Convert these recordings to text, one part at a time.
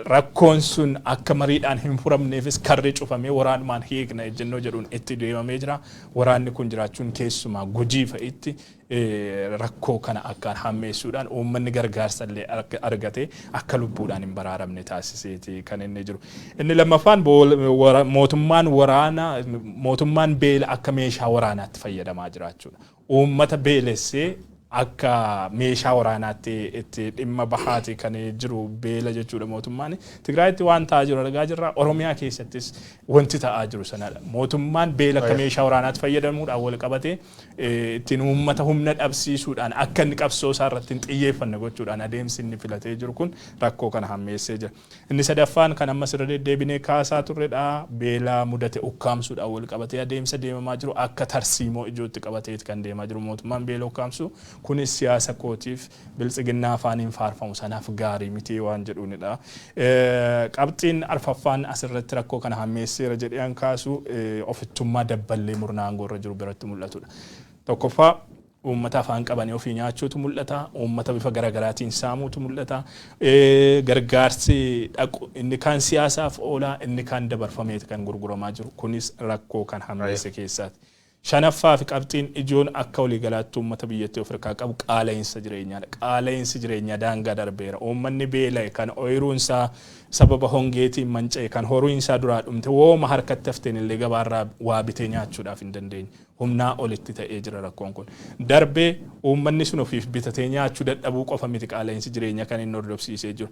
Rakkoon sun akka mariidhaan hin furamneefis karri cufamee waraanumaan hiikna ejjennoo jedhuun itti deemamee jira. Waraanni kun jiraachuun keessumaa Gujii fa'itti rakkoo kana akkaan hammeessuudhaan uummanni gargaarsa illee argatee akka lubbuudhaan hin baraaramne taasiseeti kan inni jiru. Inni lammaffaan mootummaan waraana mootummaan beela akka meeshaa waraanaatti fayyadamaa jiraachuudha. Uummata beelessee akka meeshaa waraanaatti itti dhimma bahaati kan jiru beela jechuudha mootummaan. Tigraayitti waan ta'aa jiru argaa jirra. Oromiyaa keessattis wanti ta'aa jiru sanadha. Mootummaan beela akka meeshaa waraanaatti fayyadamuudhaan wal qabatee ittiin uummata humna dhabsiisuudhaan akka inni qabsoo isaa irratti hin xiyyeeffanne gochuudhaan adeemsi inni filatee jiru kun rakkoo kana hammeessee jira. Inni sadaffaan kan ammas irra deddeebinee kaasaa turredha. Beela mudate ukkaamsuudhaan wal qabatee adeemsa deemamaa jiru akka tarsiimoo ijootti qabateeti kan deemaa jiru mootummaan beela ukkaamsuu. Kunis siyaasa kootiif Biltsiginnaa afaaniin faarfamu sanaaf gaarii miti waan jedhuunidha. Qabxiin arfaffaan asirratti rakkoo kana hammeesseera jedhee an kaasu ofittummaa dabballee murna aangoo irra jiru biratti mul'atudha. Tokkoffaa uummata afaan qabanii ofii nyaachuutu mul'ata, uummata bifa garagaraatiin saamuutu mul'ata, gargaarsi dhaqu inni kaan siyaasaaf oolaa inni kaan dabarfameeti kan gurguramaa jiru kunis rakkoo kan hammeesse keessaati. Shanaffaa fi qabxiin ijoon akka waliigalaatti uummata biyyattii of irkaa qabu qaala'iinsa jireenyaa dha. Qaala'iinsi jireenyaa daangaa darbeera. Uummanni beela'e, kan oyiruun isaa sababa hongeetiin manca'e, kan horiin isaa duraa dhumte, wooma harkatti hafteen illee gabaa irraa waa bitee nyaachuudhaaf hin dandeenye. Humnaa olitti ta'ee jira rakkoon kun. Darbee uummanni sun ofiif bitatee nyaachuu dadhabuu qofa miti qaala'iinsi jireenyaa kan inni hordofsiisee jiru.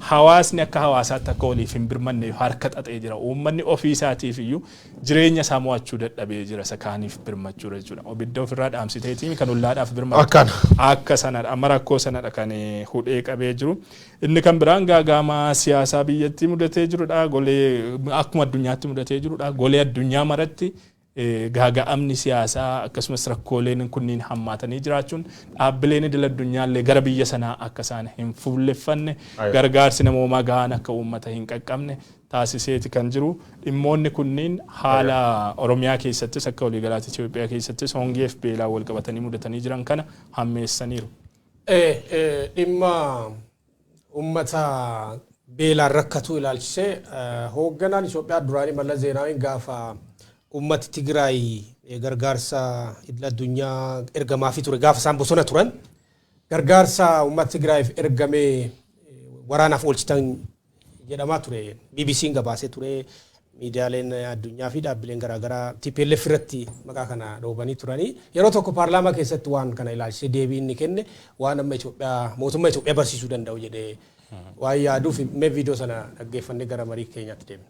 Hawaasni akka hawaasaatti akka waliif hin birmanneef harka xaxee jira. Uummanni ofii isaatiif iyyuu jireenya isaa mo'achuu dadhabee jira isa kaaniif birmachuudha jechuudha. Obidda ofirraa dhaamsiteetiin kan ollaadhaaf birmatu. Akkana. Akka sanadha. Amma rakkoo sanadha kan eh, hudhee qabee jiru. Inni kan biraan gaagaamaa siyaasaa biyyattii mudatee jirudha. Golee akkuma addunyaatti mudatee jirudha. Golee addunyaa maratti eh, gaaga'amni siyaasaa akkasumas rakkooleen kunniin hammaatanii jiraachuun dhaabbileen idil addunyaallee gara biyya sanaa akka isaan hin fuulleffanne Aywa. gargaarsi namoomaa gahaan akka uummata hin qaqqabne taasiseeti kan jiru. Dhimmoonni kunniin haala Oromiyaa keessattis akka waliigalaatti Itiyoophiyaa keessattis hongeef beelaan walqabatanii mudatanii jiran kana hammeessaniiru. Dhimma ummata beelaan rakkatuu ilaalchisee hoogganaan Itiyoophiyaa duraanii Mallas Zeenaawiin gaafa ummati Tigiraay gargaarsa idil addunyaa ergamaafii ture gaafa isaan bosona turan gargaarsa ummata Tigiraayiif ergame waraanaaf oolchitan jedhamaa ture. BBC'n gabaasee ture, miidiyaaleen addunyaa fi dhaabbileen garaagaraa tplf irratti maqaa kana dhoobanii turanii. Yeroo tokko paarlaamaa keessatti waan kana ilaalchisee deebii inni kenne waan amma Itoophiyaa mootummaa Itoophiyaa barsiisuu danda'u jedhee waan yaaduuf mee viidiyoo sana dhaggeeffannee gara marii keenyaatti deemna.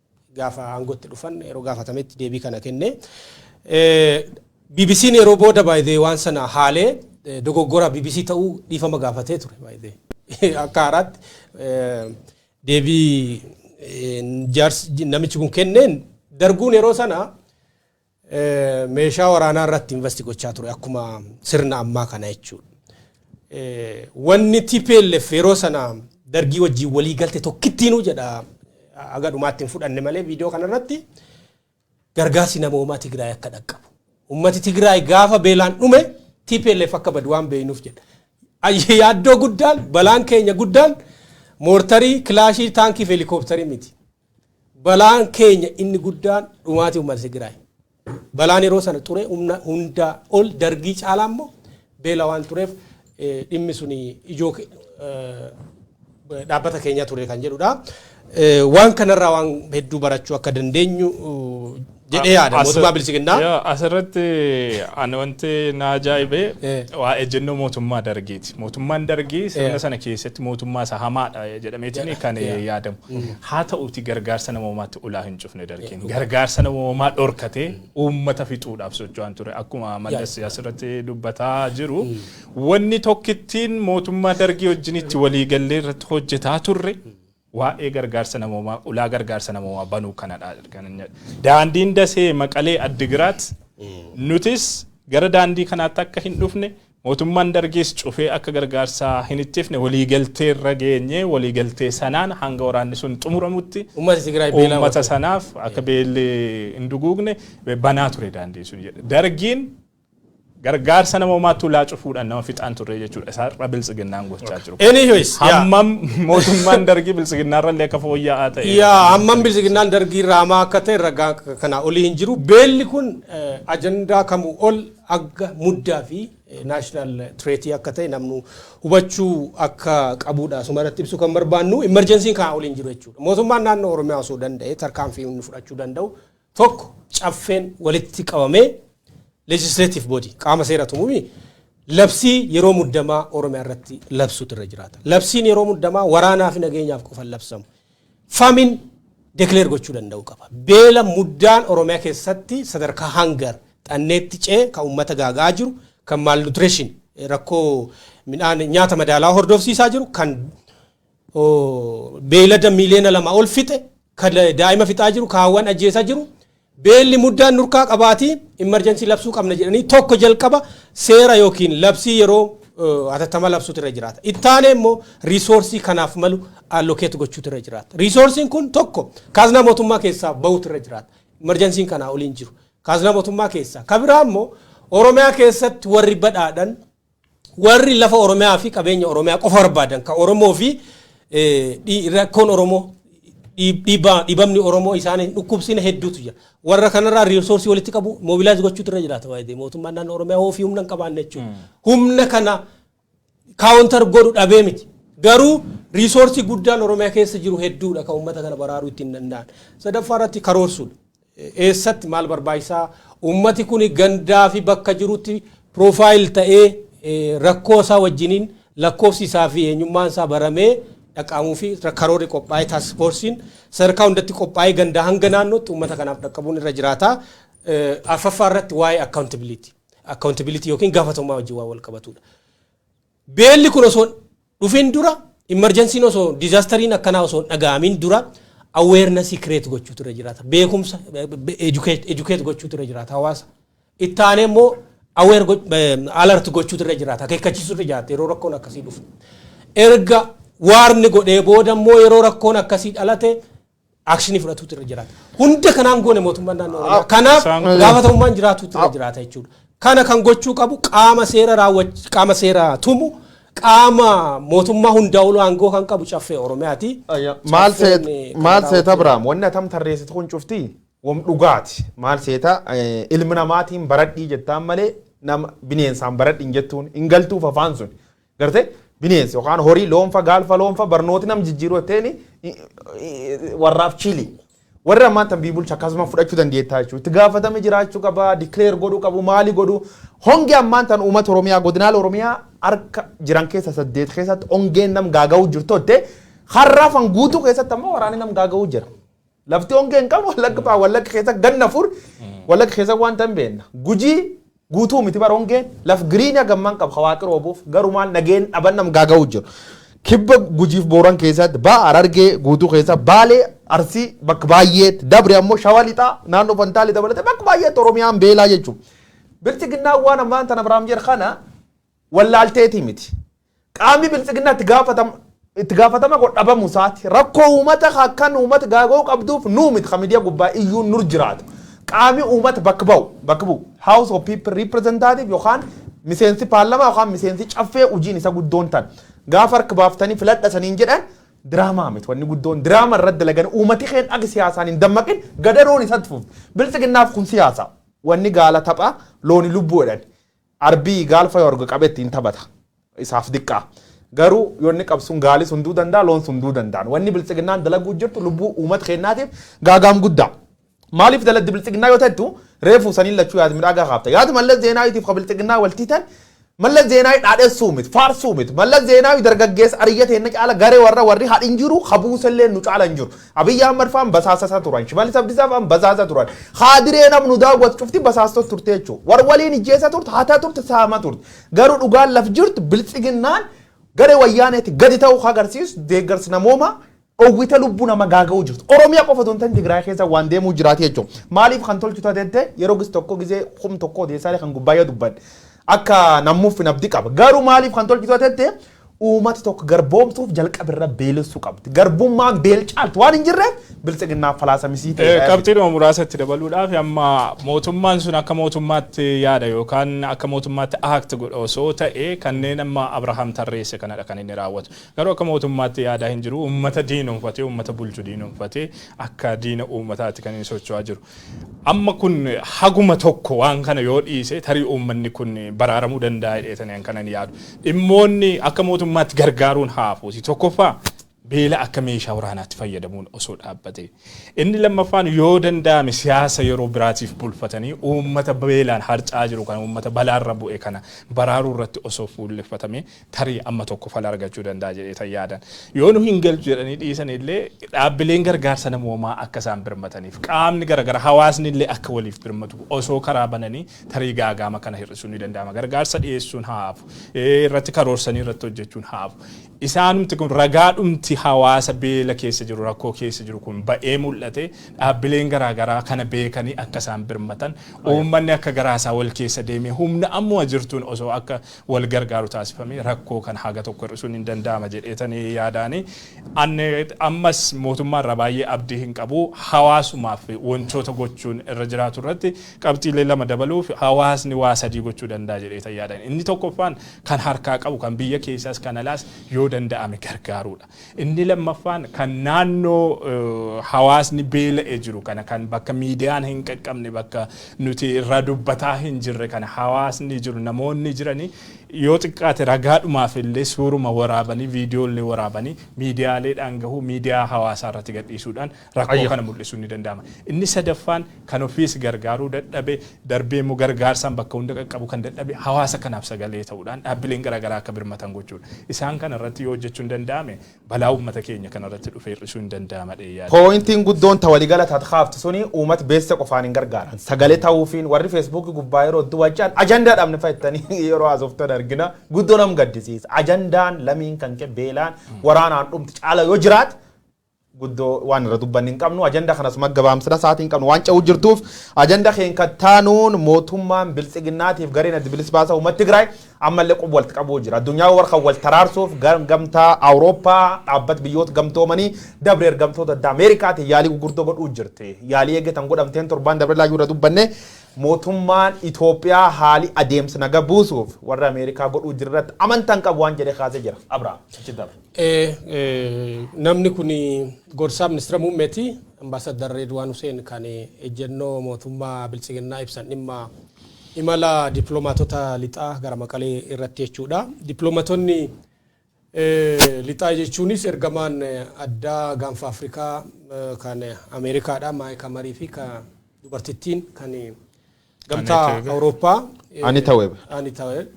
gaafa aangootti dhufan yeroo gaafatametti deebii kana kenne. BBC'n yeroo booda by the way waan sana haalee eh, dogoggora BBC ta'uu dhiifama gaafatee ture by the way. Akka haaraatti eh, deebii eh, jaarsi namichi kun kenneen darguun yeroo sana meeshaa waraanaa irratti invasti gochaa ture akkuma sirna ammaa kana jechuudha. Wanni TPLF yeroo sana dargii wajjin walii galte tokkittiinuu jedha haga dhumaatti hin fudhanne malee viidiyoo kanarratti gargaarsi namoomaa Tigraay akka dhaqqabu. Uummati Tigraay gaafa beelaan dhume TPLF akka badu waan beeknuuf jedha. Yaaddoo guddaan balaan keenya guddaan moortarii, kilaashii, taankii fi helikoophtarii miti. Balaan keenya inni guddaan dhumaatii uummata Tigiraay. Balaan yeroo sana ture humna hundaa ol Dargii caalaa immoo beela waan tureef dhimmi suni ijoo dhaabbata keenyaa ture kan jedhudha. Waan kanarraa waan hedduu barachuu akka dandeenyu jedhee yaada As- mootummaa bilisiginnaa. Yaa, Asirratti ani wanti na ajaa'ibee Eh. waa ejjennoo mootummaa dargiiti. Mootummaan dargii Eh. sirna sana keessatti mootummaa isa hamaadha jedhameetiin kan Yeah. yaadamu. Haa ta'uuti gargaarsa namoomaatti ulaa hin cufne dargiin. Gargaarsa namoomaa dhorkatee uummata fixuudhaaf socho'an ture. Akkuma Mallas asirratti dubbataa jiru. Wanni tokkittiin mootummaa dargii wajjin itti waliigallee irratti hojjetaa turre. Waa'ee gargaarsa namoomaa, ulaa gargaarsa namoomaa banuu kanadha kan inni jedhe. Daandiin Dasee, Maqalee, Addigiraat nutis gara daandii kanaatti akka hin dhufne mootummaan Dargiis cufee akka gargaarsa hin ittifne waliigalteerra geenye waliigaltee sanaan hanga waraanni sun xumuramutti Uummata Tigraay beelaa uummata oolchuu. sanaaf akka beelli hin duguugne banaa ture daandiin sun jedhe. Dargiin Gargaarsa namoomaa tulaa cufuudhaan nama fixaan turre jechuudha. Isa har'a biltsiginnaan gochaa jiru. Anyways, yaa. Hammam mootummaan dargii biltsiginnaarra illee akka fooyya'aa ta'e. Yaa hammam bilisiginnaan dargii irraa hamaa akka ta'e ragaa akka kanaa olii hin jiru. Beelli kun eh, ajandaa kamuu ol agga muddaa fi naashinaal tireetii akka ta'e namnu hubachuu akka qabuudha. Asuma irratti ibsuu kan barbaannu imerjensiin kanaa olii hin jiru jechuudha. Mootummaan naannoo Oromiyaa osoo danda'e tarkaanfii inni fudhachuu danda'u 1, Caffeen walitti qabamee legislative body, qaama seera tumu mi? Labsii yeroo muddamaa Oromiyaa irratti labsuutu irra jiraata. Labsiin yeroo muddamaa waraanaa fi nageenyaaf qofa hin labsamu. Famin declare gochuu danda'uu qaba. Beela muddaan Oromiyaa keessatti sadarkaa hangar xanneetti cee kan uummata gaaga'aa jiru, kan malnutrition rakkoo midhaan nyaata madaalawaa hordofsiisaa jiru, kan beeylada miiliyoona lama ol fixe ka daa'ima fixaa jiru kaawwan ajjeesaa jiru beelli muddaan nurkaa qabaatii imarjansii labsuu qabna jedhanii tokko jalqaba seera yookiin labsii yeroo hatattama labsuutu irra jiraata. Ittaanee immoo riisoorsii kanaaf malu allokeetu gochuutu irra jiraata. Riisoorsiin kun tokko kaaznaa mootummaa keessaa bahuutu irra jiraata. Imarjansiin kanaa oliin jiru. Kaaznaa mootummaa keessaa. Ka biraa immoo Oromiyaa keessatti warri badhaadhan Warri lafa Oromiyaa fi qabeenya Oromiyaa qofa barbaadan kan Oromoo fi rakkoon Oromoo dhiibamni Oromoo isaan hin dhukkubsine hedduutu jira. Warra kanarraa riirsoorsii walitti qabu moobilaayiz gochuutu irra jiraata baay'ee mootummaan naannoo Oromiyaa hoo fi humna hin qabaanne jechuudha. Humna kana kaawuntar godhu dhabee miti. Garuu riisoorsii guddaan Oromiyaa keessa jiru hedduudha kan uummata kana baraaruu ittiin danda'an. Sadaffaa irratti karoorsuudha. Eessatti maal barbaachisa? Uummati kun gandaa fi bakka jirutti profile ta'ee rakkoo isaa wajjiniin lakkoofsi isaa fi eenyummaan isaa baramee dhaqqaamuu fi karoorri qophaa'ee task force'n sadarkaa hundatti qophaa'ee gandaa hanga naannootti uummata kanaaf dhaqqabuun irra jiraata. Arfaffaa irratti waa'ee accountability, accountability yookiin gaafatamummaa wajjin waan wal qabatuudha. Beelli kun osoo hin dhufin dura, immerjansiin osoo, disaastariin akkanaa osoo hin dhaga'amin dura awareness create gochuutu irra jiraata. Beekumsa educate, educate gochuutu irra jiraata hawaasa. Itti aanee immoo aware go- eh, alert gochuutu irra jiraata. Akeekkachiisuu irra jiraata yeroo rakkoon akkasii dhufu. Erga waarni godhee booda immoo yeroo rakkoon akkasii dhalate akshinii fudhatuutu irra jiraata. Hunda kanaan goone mootummaan naannoo Oromiyaa. Ah, Kanaaf isaan kun- gaafatamummaan jiraatuutu irra Ah. jiraata jechuudha. Kana kan gochuu qabu qaama seera raawwach qaama seera tumu qaama mootummaa hundaa oluu aangoo kan qabu caffee Oromiyaati. Ayya, maal Caffeen, seet eh, kan maal seeta raawwatu- Abrahaam wanni atam tarreessitu kun cufti wam dhugaati maal seeta eh, ilmi namaatiin baradhii jettaan malee nama bineensaan baradhiin jettuun hin galtuuf afaan sun Garte bineensi yookaan horii loonfa gaalfa loonfa barnooti nam jijjiiruu jetteeni warraaf chiili. Warri ammaan tan bii bulcha akkasuma fudhachuu dandeettaa jechuudha. Itti gaafatame jiraachuu qaba, declare godhuu qabu, maali godhu. Hongi ammaan tan uummata Oromiyaa godinaala Oromiyaa harka jiran keessa saddeet keessatti hongeen nam gaaga'uu jirtu jette har'aafan guutuu keessatti ammoo waraanni nam gaaga'uu jira. Lafti hongee hin qabne wallagga ba'a wallagga keessa ganna afur wallagga keessa wanta hin beekna. Gujii guutuu miti bara hongeen laf giriinii hagammaan qaba hawaaqi roobuuf garuu maal nageen dhaban nam gaaga'uu jiru. Kibba gujiif booran keessatti ba'a harargee guutuu keessa baalee arsii bakka baay'eetti dabre ammoo shawa lixaa naannoo fantaalii dabalatee bakka baay'eetti oromiyaan beelaa jechuudha. Bilchiginnaan waan ammaan tana Biraam jedhe kana wallaalteetii miti. Qaamni biltsiginnaa itti gaafatama itti gaafatama godhu dhabamu isaati. Rakkoo uumata ka akkan uumata gaaga'uu qabduuf nuu miti ka midiya gubbaa iyyuun nur jiraatu. Qaami uumata bakka ba'u bakka bu'u House of People Representative yookaan miseensi paarlamaa yookaan miseensi caffee hojiin isa guddoon tan gaafa harka baaftanii filadha saniin jedhan diraamaa miti wanni guddoon diraama irratti dalagan uumati keen akka siyaasaan hin dammaqin gadaroon isatti fufti. Biltsiginnaaf kun siyaasa. Wanni gaala tapha looni lubbuu jedhan. Arbii gaal fayo arge qabe ittiin tabata. Isaaf diqqaa. Garuu yoo inni qab sun gaali sun duu dandaa loon sun duu dandaan. Wanni biltsiginnaan dalaguu jirtu lubbuu uumat keennaatiif gaagaam guddaa. Maaliif daladdi biltsiginnaa yoo tattu reefuu saniin lachuu yaad midhaagaa kaafta. Yaad Mallas Zeenaawiitiif ka biltsiginnaa wal tiitan Mallas Zeenaawi dhaadhessuu mit, faarsuu mit. Mallas Zeenaawi dargaggeessa ariyya teenna caala garee warra warri hadhin jiru ka buuselleen nu caala hin jiru. Abiy Ahmad faan basaasa isaa turan. Shimallis Abdisaa faan basaasa turan. Kaadireen am nu daawwatu cufti basaastot turte jechuudha. War waliin ijjeessa turte, hataa turte, saama turte. Garuu dhugaan laf jirtu biltsiginnaan garee wayyaaneeti gadi ta'uu ka agarsiisu deeggarsi namoomaa dhowwite lubbuu nama gaaga'uu jirtu. Oromiyaa qofa otoo hin ta'in Tigraay keessa waan deemuu jiraati jechuudha. Maaliif kan tolchu tateette yeroo gis tokko gisee kum tokko odeessaalee kan gubbaayyaa dubban akka nammuuf hin abdi qaba. Garuu maaliif kan tolchu tateette Uumati tokko garboomsuuf jalqabe irra beelessu qabdi. Garbummaan beel caaltu waan hin jirreef biltsiginnaaf falaasa misiitee dha jedhe. Qabxiidhuma muraasa itti dabaluudhaaf amma mootummaan sun akka mootummaatti yaada yookaan akka mootummaatti act godha osoo ta'e kanneen amma Abrahaam tarreesse kanadha kan inni raawwatu. Garuu akka mootummaatti yaadaa hin jiru. Uummata diinomfatee uummata bulchu diinomfatee akka diina uummataatti kan inni socho'aa jiru. Amma kun haguma tokko waan kana yoo dhiise tarii uummanni kun baraaramuu danda'a jedheetani an kanan yaadu. Dhimmoonni akka mootummaatti gargaaruun haa hafuuti. Tokkoffaa beela akka meeshaa waraanaatti fayyadamuun osoo dhaabbatee. Inni lammaffaan yoo danda'ame siyaasa yeroo biraatiif bulfatanii uummata beelaan harca'aa jiru kana uummata balaarra bu'e kana baraaruu irratti osoo fuulleffatamee tarii amma tokko fala argachuu danda'a jedheetan yaadan. Yoo nu hin galchu jedhanii dhiisan illee dhaabbileen gargaarsa namoomaa akka isaan birmataniif qaamni garagara hawaasni illee akka waliif birmatu osoo karaa bananii tarii gaagaama kana hir'isuun ni danda'ama. Gargaarsa dhiyeessuun haa hafu. Irratti karoorsanii irratti hojjechuun haa hafu. Isaanumti kun ragaadhumti hawaasa beela keessa jiru rakkoo keessa jiru kun ba'ee mul'ate dhaabbileen garaagaraa kana beekanii akka isaan birmatan uummanni akka garaa isaa wal keessa deemee humna ammuma jirtuun osoo akka wal gargaaru taasifamee rakkoo kana haga tokko hir'isuun hin danda'ama jedheetani yaadaani. An ammas mootummaa irraa baay'ee abdii hin qabu. Hawaasumaaf wantoota gochuun irra jiraatu irratti qabxiilee lama dabaluuf hawaasni waa sadii gochuu danda'a jedheetan yaada. Inni tokkoffaan kan harkaa qabu kan biyya keessaas kan alaas yoo danda'ame gargaaruu dha. Inni lammaffaan kan naannoo hawaasni beela'e jiru kana kan bakka miidiyaan hin qaqqabne bakka nuti irraa dubbataa hin jirre kana hawaasni jiru namoonni jiranii yoo xiqqaate ragaadhumaaf illee suuruma waraabanii viidiyoo illee waraabanii miidiyaaleedhaan gahuu miidiyaa hawaasaa irratti gadhiisuudhaan rakkoo kana mul'isuun ni danda'ama. Inni sadaffaan kan ofiis gargaaruu dadhabe, darbee immoo gargaarsaan bakka hunda qaqqabuu kan dadhabe hawaasa kanaaf sagalee ta'uudhaan dhaabbileen gara garaa akka birmatan gochuudha. Isaan kana irratti yoo hojjechuun danda'ame balaa uummata keenya kana irratti dhufe hir'isuun ni danda'ama jedhee yaada. Pooyintiin guddoon ta waligala tat kaaftu suni uumat beesse qofaan hin gargaaran. Sagale ta'uufiin warri feesbuukii gubbaa yeroo hedduu wal ce'an ajandaa dhabne fa'a jettanii yeroo haasoftan argina. Guddoo nam gaddisiisa. Ajandaan lamiin kan kee beelaan waraanaan dhumti caala yoo jiraate guddo waan irra dubbanne hin qabnu ajanda kana suma gabaamsina saatiin qabnu waan ca'uu jirtuuf ajanda keen kattaanuun mootummaan biltsiginnaatiif gareen addi bilis baasaa uummata Tigraay ammallee qub walti qabuu jira addunyaa war kan wal taraarsuuf gamtaa Awurooppaa dhaabbat biyyoota gamtoomanii dabre ergamtoota adda Ameerikaatiin yaalii gurguddoo godhuu jirti yaalii eeggatan godhamteen torbaan dabre laayyuu irra dubbanne mootummaan Itoophiyaa haali adeemsa naga buusuuf warra Ameerikaa godhuu jirratti amantan qabu waan jedhe kaasee jira Abrahaam achi dabre. Namni kun gorsaa Ministira Muummeeti. Ambaasaddar Reedwaan Huseen kan ejjennoo mootummaa Biltsiginnaa ibsan dhimma imala dippilomaatota Lixaa gara Maqalee irratti jechuudha. Dippiloomatonni Lixaa jechuunis ergamaan addaa Gaanfa Afrikaa kan Ameerikaadha Maayik Hamarii fi kan dubartittiin kan Gamtaa Anita Webe. Awurooppaa eh, Anita Webe. Anita Webe.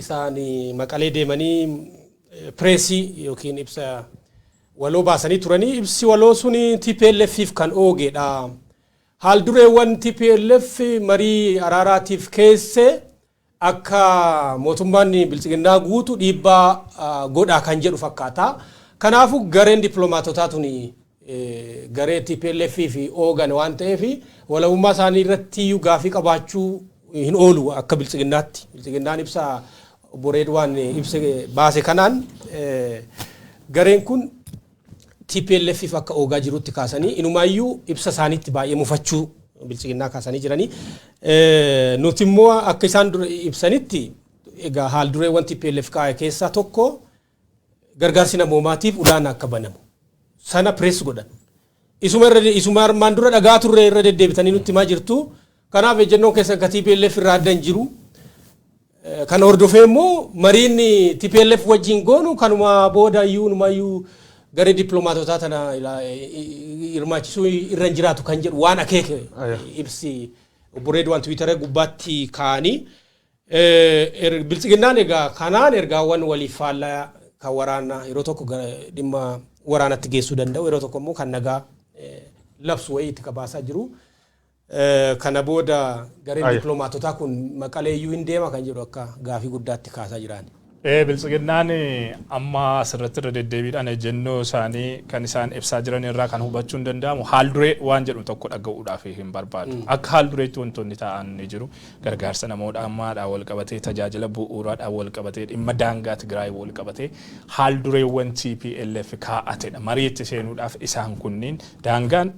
isaan eh, maqalee deemanii eh, pireesii yookiin ibsa waloo baasanii turanii ibsi waloo sun TPLFif kan oogeedha. Haal dureewwan TPLF marii araaraatiif keesse akka mootummaan bilchiginnaa guutu dhiibbaa ah, godhaa kan jedhu fakkaata. Kanaafuu gareen dippiloomaatotaa tuni garee tplf fi oogan waan ta'eef walabummaa isaanii irrattiyyuu gaaffii qabaachuu hin oolu akka biltsiginnaatti. Biltsiginnaan ibsa obbo Reedwaan ibse baase kanaan gareen kun tplf fi akka oogaa jirutti kaasanii inumaayyuu ibsa isaaniitti baay'ee mufachuu biltsiginnaa kaasanii jiranii. Nuti immoo akka isaan ibsanitti egaa haal dureewwan tplf kaa'e keessaa tokko gargaarsi namoomaatiif ulaan akka banamu sana press godhan. Isuma irra isuma armaan dura dhaga'aa turre irra deddeebitanii nutti himaa jirtu. Kanaaf ejjennoon keessan ka TPLF irraa adda hin jiru. Eh, Kana hordofee immoo mariin TPLF wajjin goonu kanuma booda iyyuu numa iyyuu garee dippiloomaatotaa tana ilaa- eh, eh, hirmaachisuu irra hin jiraatu kan jedhu waan akeeke Aya. ibsi obbo Reedwaan Tiwiitara gubbaatti kaa'anii Biltsiginnaan egaa kanaan ergaawwan waliif faallaa kan waraanaa yeroo tokko gara dhimma waraanatti geessuu danda'u yeroo tokko immoo kan nagaa labsu wayii itti kabaasaa jiru. Kana booda gareen dippilomaatotaa kun Maqalee iyyuu hin deema kan jedhu akka gaafii guddaatti kaasaa jiraan. Biltsiginnaan amma asirratti irra deddeebiidhaan ejjennoo isaanii kan isaan ibsaa jiran irraa kan hubachuun danda'amu haalduree waan jedhu tokko dhaga'uudhaaf hin barbaadu. Akka haaldureetti wantoonni taa'an ni jiru. Gargaarsa namoodhaammaadhaan walqabatee, tajaajila bu'uuraadhaan walqabatee, dhimma daangaa Tigraay walqabatee haaldureewwan tplf kaa'atedha. Mariitti seenuudhaaf isaan kunniin daangaan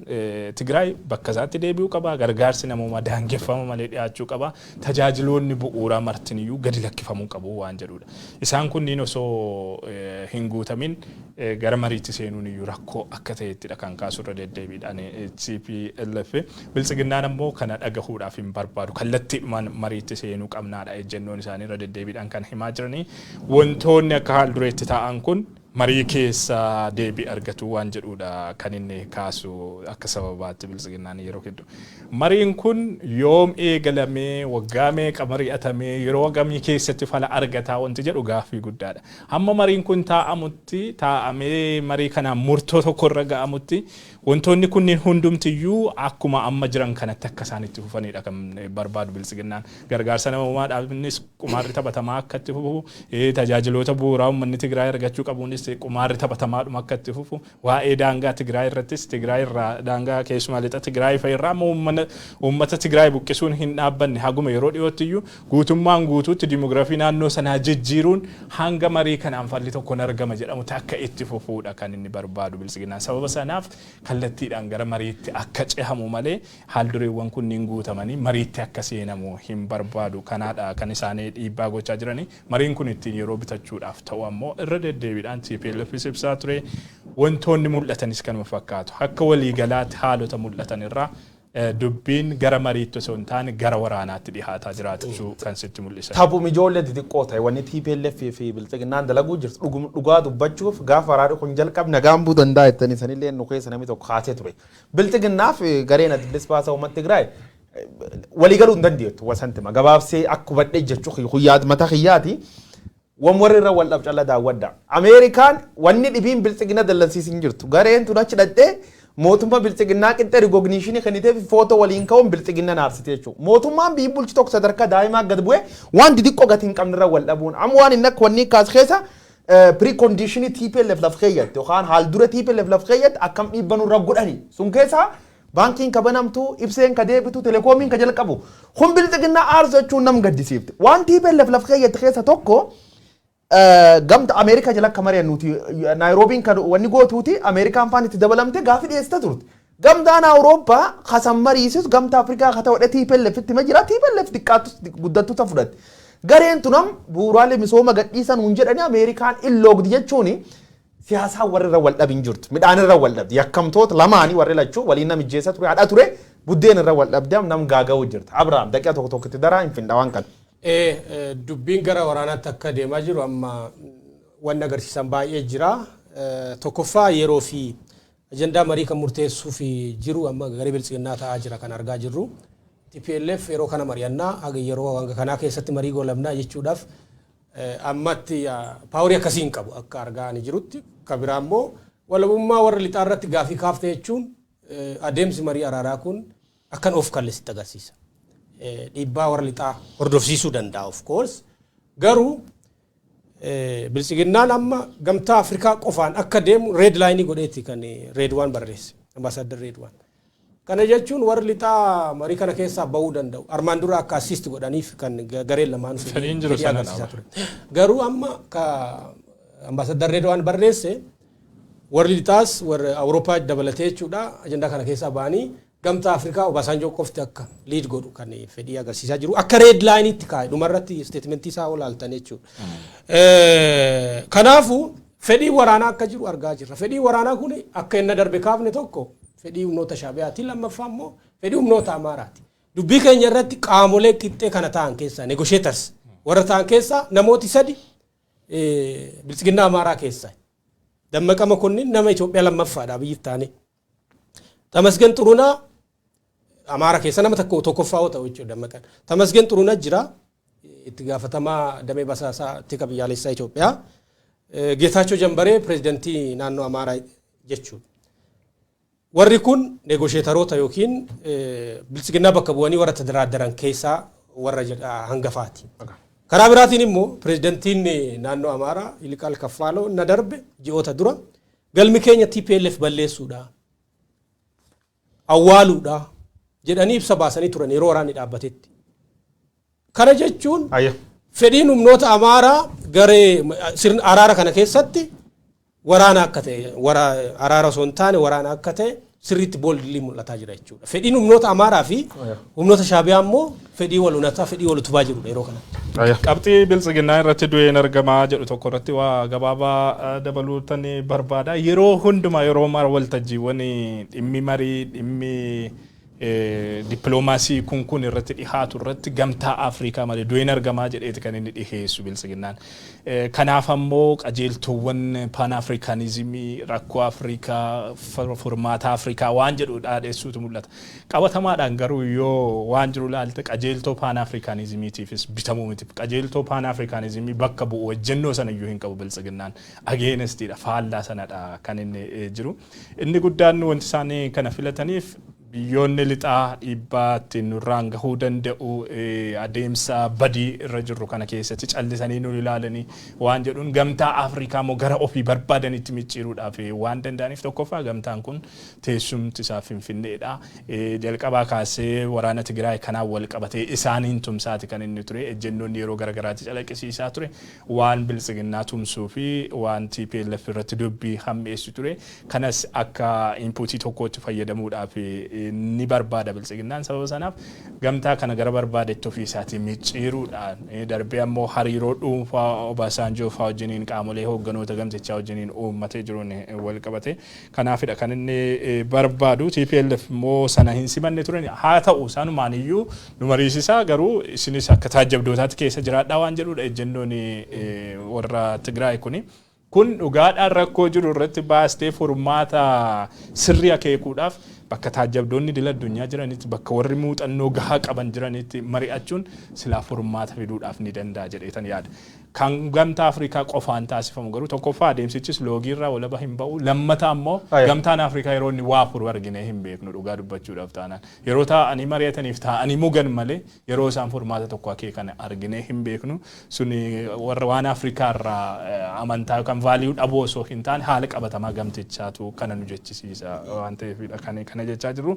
Tigraay bakka isaatti deebi'uu qaba, gargaarsi namoomaa daangeffama malee dhiyaachuu qaba, tajaajiloonni bu'uuraa martiniyyuu gadi lakkifamuu qabu waan jedhuudha. Isaan kunniin osoo hin guutamin gara mariitti seenuuniyyuu rakkoo akka ta'ettidha kan kaasu irra deddeebiidhaan tplf. Biltsiginnaan ammoo kana dhagahuudhaaf hin barbaadu. Kallattiidhumaan mariitti seenuu qabnaadha ejjennoon isaanii irra deddeebiidhaan kan himaa jiranii. Wantoonni akka haal-dureetti taa'an kun. marii keessa deebii argatu waan jedhuudha kan inni kaasu akka sababaatti Biltsiginnaan yeroo hedduu. Mariin kun yoom eegalame, waggaa meeqa mari'atame, yeroo hagamii keessatti fala argata wanti jedhu gaaffii guddaadha. Hamma mariin kun taa'amutti, taa'amee marii kanaan murtoo tokkorra ga'amutti Wantoonni kunniin hundumti iyyuu akkuma amma jiran kanatti akka isaan itti fufanii dha kan barbaadu Biltsiginnaan. Gargaarsa namoomaa dhaabnis qumaarri taphatamaa akka itti fufu, tajaajiloota bu'uuraa uummanni Tigraay argachuu qabuunis qumaarri taphatamaadhuma akka itti fufu, waa'ee daangaa Tigraay irrattis Tigraay irraa daangaa keessumaa lixa Tigraay fa'i irraa amma uummata Tigraay buqqisuun hin dhaabbanne haguma yeroo dhiyootti iyyuu Guutummaan guutuutti dimografii naannoo sanaa jijjiiruun hanga marii kanaan falli tokko hin argama jedhamutti akka itti fufuudha kan inni barbaadu Biltsiginnaan. Sababa sanaaf kallattiidhaan gara mariitti akka cehamu malee haaldureewwan kunniin guutamanii mariitti akka seenamu hin barbaadu. Kanaadha kan isaan dhiibbaa gochaa jiranii. Mariin kun ittiin yeroo bitachuudhaaf ta'uu ammoo irra deddeebiidhaan TPLFis ibsaa ture. Wantoonni mul'atanis kanuma fakkaatu. Akka waliigalaatti haalota mul'atan irraa Dubbiin gara mariitti osoo hin taane gara waraanaatti dhihaataa jiraachuu kan sitti mul'isani. Taphuma ijoollee xixiqqoo ta'e wanni tplf fi bilxiginnaan dalaguu jirtu dhuguma dhugaa dubbachuuf gaafa waraani kun jalqabe nagaan bu'uu danda'a jettanii sanillee nu keessa namni tokko kaasee ture. Bilxiginnaa fi gareen Adda Bilisa Baasaa Uummata Tigraay walii galuu hin dandeettu. Santima gabaabsee akka hubadhee jechuu kiyya kun yaad mataa kiyyaati. Wan warri irra wal dhab calla daawwadha. American wanni dhibiin bilxigina dallansiis hin jirtu. Gareen tun achi dhaqxe mootumma bilxiginnaa qixxe rigogniishini kenniteefi photo waliin ka'uun bilxiginna naarsite jechu. Mootummaan biyyi bulchu tokko sadarka daa'imaa gad bu'e waan didiqqo gati hin qabne irra wal dhabuun am waan inni akka wannii kaas keessa precondition tplf laf keeyyatte yokaan haal dure tplf laf keeyyatte akkam dhiibba nurra godhani sun keessa Baankiin ka banamtu, ibseen ka deebitu, telekoomiin ka jalqabu. Kun bilxiginnaa aarsachuun nam gaddisiifti. Waan tplf laf keeyyatti keessa tokko gamta Ameerikaa jala akka mari'annuuti Naayiroobiin ka wanni gootuuti Ameerikaan faan itti dabalamte gaafi dhiyeessita turte. Gamtaan Awurooppaa ka san mariisisu gamta Afrikaa ka ta'odhe tplf itti hima jira. Tplf diqqaattus guddattu ta fudhatte. Gareen tunam bu'uuraalee misooma gadhiisa nuun jedhani Ameerikaan in loogdi jechuuni Siyaasaa warri irra wal dhabi hin jirtu. Midhaan irra wal dhabdi. Yakkamtoota lamaani warri lachuu waliin nam ijjeessa ture hadha ture buddeen irra wal dhabdi am nam gaaga'uu jirti. Abraham daqiqa tokko tokko itti daraa hin findha waan kana. Ee dubbiin gara waraanaatti akka deemaa jiru amma wanni agarsiisan baay'ee jira. Tokkoffaa yeroo fi ajandaa marii kan murteessuu fi jiru amma garee biltsiginnaa ta'aa jira kan argaa jirru. TPLF yeroo kana mari'annaa haga yeroo hanga kanaa keessatti marii goolabnaa jechuudhaaf Ammatti paaworii akkasii hin qabu akka argaa ani jirutti. Ka biraa immoo walabummaa warra lixaa irratti gaaffii kaafte jechuun adeemsi marii araaraa kun akkan of kalle sitti agarsiisa. Dhiibbaa warra lixaa hordofsiisuu danda'a of course. Garuu biltsiginnaan amma gamtaa Afrikaa qofaan akka deemu red line godheeti kan Reedwaan barreesse. Ambaasaadder Reedwaan. Kana jechuun warri lixaa marii kana keessaa ba'uu danda'u. Armaan dura akka assist godhaniif kan gareen lamaanuu Fedhiin fedhii jiru fedhii sana agarsiisaa dhaaba. ture. Garuu amma ka ambaasaddar Reedwaan barreesse warri lixaas warri Awurooppaa dabalatee jechuudha ajandaa kana keessaa ba'anii gamtaa Afrikaa Obaasaanjoo qofti akka liid godhu kan fedhii agarsiisaa jiru. Akka reed laayiniitti kaa'e dhumarratti isteetimentii isaa olaaltan jechuudha. Eh, Kanaafuu Fedhiin waraanaa akka jiru argaa jirra. Fedhiin waraanaa kun akka enna darbe kaafne tokko fedhii humnoota Shaabiyaati, lammaffaa immoo fedhii humnoota Amaaraati. Dubbii keenya irratti qaamolee qixxee kana ta'an keessaa, negotiators, warra ta'an keessaa namooti sadi Biltsiginnaa Amaaraa keessaa. Dammaqa Makonnin nama Itoophiyaa lammaffaadha Abiyyi ittaanee. Tamasgen Xurunaa Amaara keessa nama tokko tokkoffaa yoo ta'u jechuudha dammaqan. Tamasgen Xurunaa jira itti gaafatamaa damee basaasaa tika biyyaalessaa Itoophiyaa. Geetaachoo Jambaree pireezidantii naannoo Amaaraa jechuudha. Warri kun neegosheetaroota yookiin bilisiginnaa bakka bu'anii warra tadaraaddaran keessaa warra hangafaati. Karaa biraatiin immoo pireezidantiin naannoo Amaaraa Iliqaal Kaffaaloo na darbe ji'oota dura Galmi keenya tplf balleessuudha, awwaaluudha jedhanii ibsa baasanii turan yeroo waraanni dhaabbatetti. Kana jechuun Ayya. fedhiin humnoota Amaaraa garee sirna araara kana keessatti waraana akka ta'e wara- araara osoo hin taane waraana akka ta'e sirriitti boldly mul'ataa jira jechuudha. Fedhiin humnoota Amaaraa fi humnoota Shaabiyaa immoo fedhii wal unataa, fedhii wal utubaa jirudha yeroo kanatti. Qabxii biltsiginnaa irratti du'een argamaa jedhu tokko irratti waa gabaabaa dabaluutan barbaada. Yeroo hundumaa yeroo mara waltajjiiwwan dhimmi marii dhimmi dippiloomaasii kun kun irratti dhihaatu irratti gamtaa Afrikaa malee du'een argamaa jedheeti kan inni dhiheessu biltsiginnaan. Kanaaf ammoo qajeeltoowwan Paanaafriikaanizimii, rakkoo Afrikaa, furmaata Afrikaa waan jedhu dhaadheessuutu mul'ata. Qabatamaadhaan garuu yoo waan jiru ilaalte qajeeltoo Paanaafriikaanizimiitiifis bitamuu miti. Qajeeltoo Paanaafriikaanizimii bakka bu'u ejjennoo sana iyyuu hin qabu Biltsiginnaan. Against dha, faallaa sanadha kan inni jiru. Inni guddaan wanti isaan kana filataniif. Biyyoonni lixaa dhiibbaa itti nurraan gahuu danda'u adeemsa badii irra jirru kana keessatti callisanii nu ilaalanii waan jedhuun gamtaa Afrikaa immoo gara ofii barbaadanitti micciiruudhaaf waan danda'aniif tokkoffaa gamtaan kun teessumti isaa Finfinneedha. Jalqabaa kaasee waraana Tigiraay kanaan wal qabatee isaaniin tumsaati kan inni ture. Ejjennoonni yeroo gara garaatti calaqqisiisaa ture. Waan Biltsiginnaa tumsuu fi waan tplf irratti dubbii hammeessu ture. Kanas akka inpuutii tokkootti fayyadamuudhaaf ni barbaada Biltsiginnaan. Sababa sanaaf gamtaa kana gara barbaadetti ofii isaatii micciiruudhaan darbee ammoo hariiroo dhuunfaa Obaasaanjoo faa wajjiniin qaamolee hoogganoota gamtichaa wajjiniin uummatee jiruun wal qabatee kanaafidha kan inni barbaadu. Tplf immoo sana hin simanne ture. Haa ta'u sanumaan iyyuu nu mariisisaa garuu isinis akka taajjabdootaatti keessa jiraadhaa waan jedhuudha ejjennoon warra Tigraay kuni. Kun dhugaadhaan rakkoo jiru irratti baastee furmaata sirrii akeekuudhaaf bakka taajjabdoonni idil addunyaa jiranitti, bakka warri muuxannoo gahaa qaban jiranitti mari'achuun silaa furmaata fiduudhaaf ni danda'a jedheetan yaada. Kan Gamtaa Afrikaa qofaan taasifamu garuu tokkoffaa adeemsichis loogii irraa walaba hin ba'u. Lammata ammoo Gamtaan Afrikaa yeroo inni waa furu arginee hin beeknu dhugaa dubbachuudhaaf taanaan. Yeroo taa'anii mari'ataniif taa'anii mugan malee Yeroo isaan furmaata tokko akeekan arginee hin beeknu. Sun warra waan Afrikaa irraa amantaa yookaan vaaliyuu dhabuu osoo hin taane haala qabatamaa gamtichaatu kana nu jechisiisa waan ta'eefidha kan kana jechaa jirru.